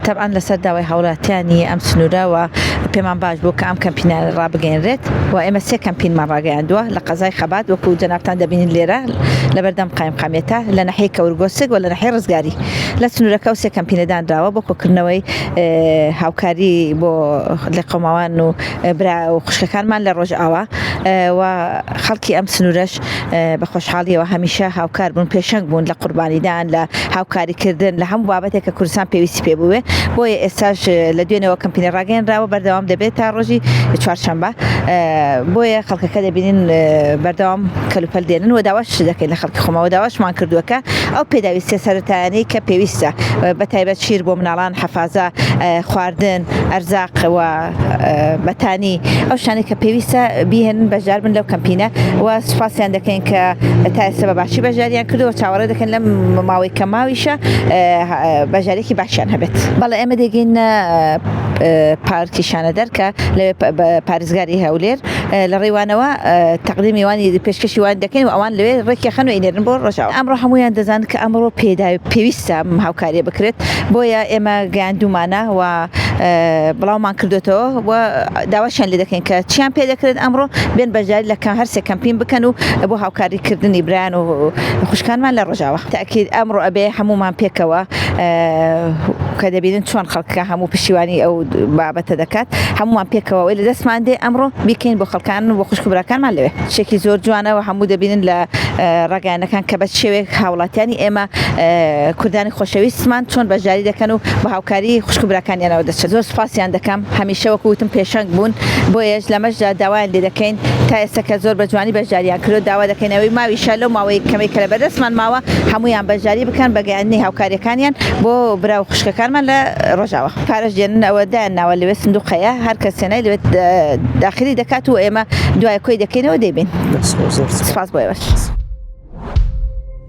تەبعەن لەسەر داوای هاوڵاتیانی ئەم سنوورە وە پێمان باش بوو کە ئەم کەمپینە ڕابگەیەنرێت و ئێمە سێ کەمپینمان ڕاگەیاندووە لە قەزای خەبات وەکوو جەنابتان دەبینن لێرە لەبەردەم قایمقامیەتە لە ناحیەی کەورگۆسک و لە ناحیەی ڕزگاری لە سنوورەکە و سێ کەمپینە دانراوە بۆ کۆکردنەوەی هاوکاری بۆ لێقەوماوان و برا و خوشکەکانمان لە ڕۆژئاوا و خەڵکی ئەم سنوورەش بە خۆشحاڵیەوە هەمیشە هاوکار بوون پێشەنگ بوون لە قوربانیدان لە هاوکاری کردن لە هەموو بابەتێک کە کوردستان پێویستی پێ بووێ بۆیە ئێستاش لە دوێنەوە کەمپینە ڕاگەنراوە بەردەوام دەبێت تا ڕۆژی چوارشەمبە بۆیە خەڵکەکە دەبینین بەردەوام کەلوپەل دێنن و داواش دەکەین لە خەڵکی خۆمەوە داواشمان کردووەکە ئەو پێداویستە سەرەتایانی کە پێویستە بە تایبەت شیر بۆ مناڵان حەفازە خواردن ئەرزاقەوە بەتانی ئەو شتانەی کە پێویستە بیهێنن بەشدار بن لەو کەمپینە و سوپاسیان دەکەین کە تا ئێستا بە باشی بەشداریان کردەوە چاوەڕێ دەکەن لەم ماوەی کە ماویشە بەشدارێکی باشیان هەبێت بەڵێ ئێمە دەگەینە پارکی شانەدەر کە لەوێ پارێزگاری هەولێر لە ڕێوانەوە تەقدیم میوانی پێشکەشی وان دەکەین و ئەوان لەوێ ڕێکی خەن و ئینێرن بۆ ڕژاوە ئەمڕۆ هەمویان دەزان کە ئەمڕۆ پێدا پێویستە هاوکاریە بکرێت بۆیە ئێمە گەیاندومانە و بڵاومان کردوێتەوە و داواشیان لێ دەکەین کە چیان پێ دەکرێت ئەمڕۆ بێن بەشداری لە کە هەرسێ کەمپین بکەن و بۆ هاوکاریکردنی برایان و خوشکانمان لە ڕژاوە تاکیید ئەمڕۆ ئەبێ هەمومان پێکەوە کە دەبینن چۆن خەڵکە هەموو پشیوانی ئەو بابەتە دەکات هەمووان پێکەوەی لە دەستمان دێ ئەمڕۆ بیکەین بۆ خەڵکان بۆ خوشک براکانمان لەوێ شێکی زۆر جوانەوە هەموو دەبینن لە ڕگەیانەکان کە بە شێوێک هاوڵاتیانی ئێمە کوردانی خۆشەویستمان چۆن بەشداری دەکەن و کاری خوشک و براکانیانەوە دەچن زۆر سوپاسیان دەکەم هەمیشە وەکو وتم پێشەنگ بوون بۆیەش لەمەشدا داوایان لێ دەکەین تا ئێستا کە زۆر بەجوانی بەشداریان کردوە داوا دەکەین ئەوەی ماویشە لەو ماوەی کەمەی کە لەبەردەستمان ماوە هەموویان بەشداری بکەن بە گەیاندنی هاوکاریەکانیان بۆ برا و خوشکەکانمان لە ڕۆژاوا پارەش دێنن ئەوە دایان ناوە لەوێ سندوق هەیە هەرکەس هێنای لەوێ داخلی دەکات و ئێمە دوای کۆی دەکەینەوە دەیبەین سوپاس بۆ ئێوەش.